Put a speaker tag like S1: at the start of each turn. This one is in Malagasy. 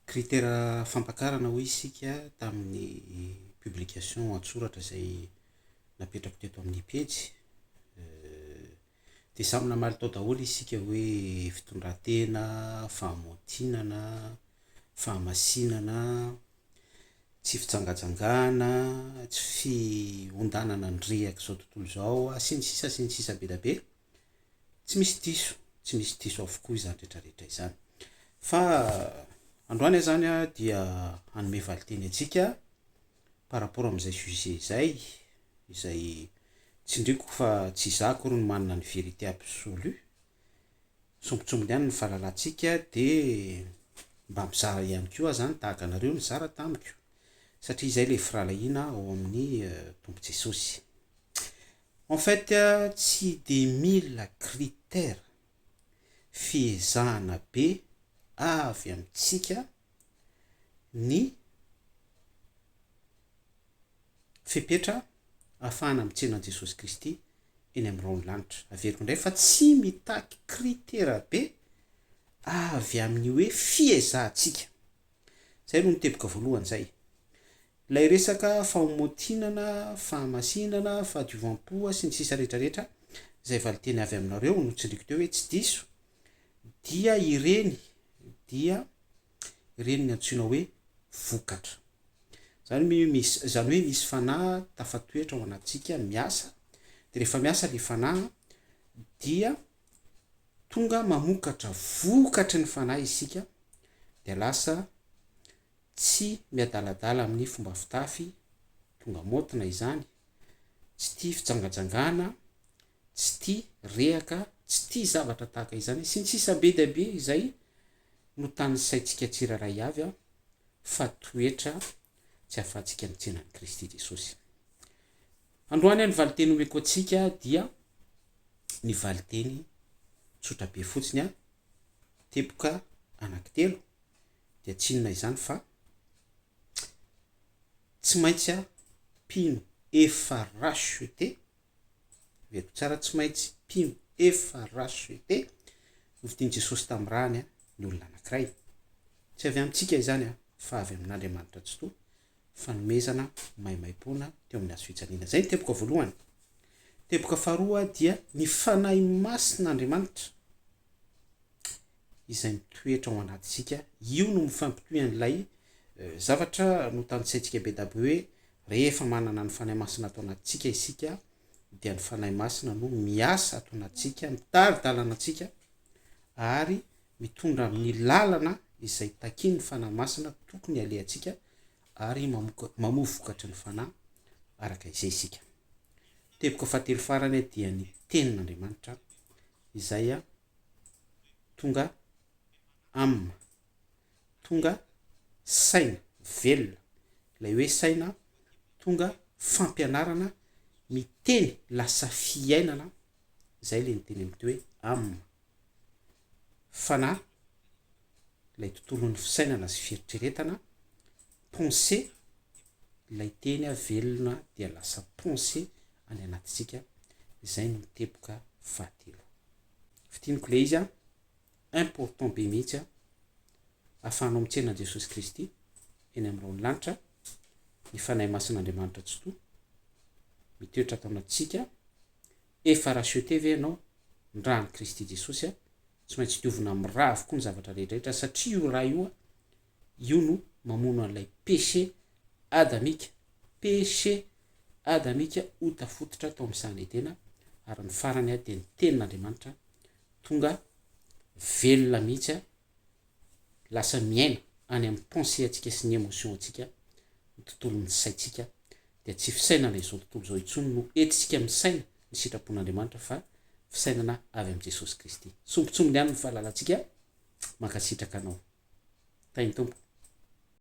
S1: Critère fampakarana hoy isika tamin'ny publication an-tsoratra izay napetrako teto amin'ny pejy. Dia samy namaly tao daholo isika hoe fitondran-tena, fahamaontinana, fahamasinana, tsy fijangajangana, tsy fiondanana ny reak'izao tontolo izao, sy ny sisa sy ny sisa be dia be. Tsy misy diso, tsy misy diso avokoa izany rehetra rehetra izany. Fa androany izany dia hanome valinteny antsika par rapport amin'izay sujet izay, izay tsindriako fa tsy izaho akory no manana ny vérité absolu. Sombintsombiny ihany ny fahalalantsika dia mba mizara ihany koa aho izany tahaka anareo nizara tamiko satria izay ilay firahalahiana ao amin'ny Tompo Jesosy. En fait tsy de mila critère, fiezahana be avy amintsika ny fepetra ahafahana mitsena an'i Jesosy Kristy eny amin'ny rahon'ny lanitra. Averiko indray fa tsy mitaky critère be avy amin'ny hoe fiezahantsika. Izay aloha ny teboka voalohany izay. Ilay resaka faomontinana, fahamasinana, fahadiovam-po sy ny sisa rehetra rehetra, izay valinteny avy aminareo no tsindriko teo hoe tsy diso, dia ireny dia ireny ny antsoina hoe vokatra. Izany hoe misy, izany hoe misy fanahy tafatoetra ao anatintsika miasa, dia rehefa miasa ilay fanahy dia tonga mamokatra vokatry ny fanahy isika dia lasa tsy miadaladala amin'ny fomba fitafy, tonga maotina izany, tsy tia fijangajangana, tsy tia rehaka, tsy tia zavatra tahaka izany, sy ny sisa Be dia be izay no tanisaintsika tsirairay avy fa toetra tsy ahafahantsika mitsenan'i Kristy Jesosy. Androany ny valiteny omeko antsika dia ny valiteny tsotra be fotsiny a, teboka anankitelo dia tsy inona izany fa tsy maintsy a mpino efa racheté, heveriko tsara, tsy maintsy mpino efa racheté no fidin'i Jesosy tamin'ny rany a, ny olona anankiray. Tsy avy amintsika izany a, fa avy amin'Andriamanitra Tsitoha. fanomezana maimaimpoana teo amin'ny hazofijaliana. Izay ny teboka voalohany. Teboka faharoa dia ny Fanahy Masin'Andriamanitra izay mitoetra ao anatintsika. Io no mifampitohy an'ilay zavatra notanisaintsika be dabe hoe rehefa manana ny Fanahy Masina ato anatintsika isika dia ny Fanahy Masina no miasa ato anatintsika, mitari-dalana antsika ary mitondra amin'ny lalana izay takian'ny Fanahy Masina tokony halehantsika ary mamoa vokatry ny Fanahy araka izay isika. Teboka fahatelo farany dia ny Tenin'Andriamanitra izay tonga âme, tonga saina velona, ilay hoe saina tonga fampianarana miteny lasa fiainana Izay ilay niteny amin'ity hoe am. Fanahy, ilay tontolon'ny fisainana sy fieritreretana, pensée, ilay teny velona dia lasa pensée any anatintsika, izay no teboka fahatelo. Fintiniko ilay izy an, important be mihitsy an, ahafahanao mitsena an'i Jesosy Kristy eny amin'ny rahon'ny lanitra, ny Fanahy Masin'Andriamanitra Tsitoha, mitoetra ato anatintsika, Efa racheter ve ianao? Ny ran'i Kristy Jesosy a! Tsy maintsy diovina miraa avokoa ny zavatra rehetrarehetra satria io ra io a! Io no mamono an'ilay péché adamika, péché adamika ho tafototra tao amin'ny sahan'i Edena ary ny farany a dia ny Tenin'Andriamanitra tonga velona mihitsy a! lasa miaina any amin'ny pensée antsika sy ny émotion antsika, ny tontolon'ny saintsika, dia tsy fisainana izao tontolo izao intsony no entintsika misaina ny sitrapon'Andriamanitra fa fisainana avy amin'i Jesosy Kristy. Sombintsombiny aminy ny fahalalantsika, mankasitraka anao Tahin'ny Tompo.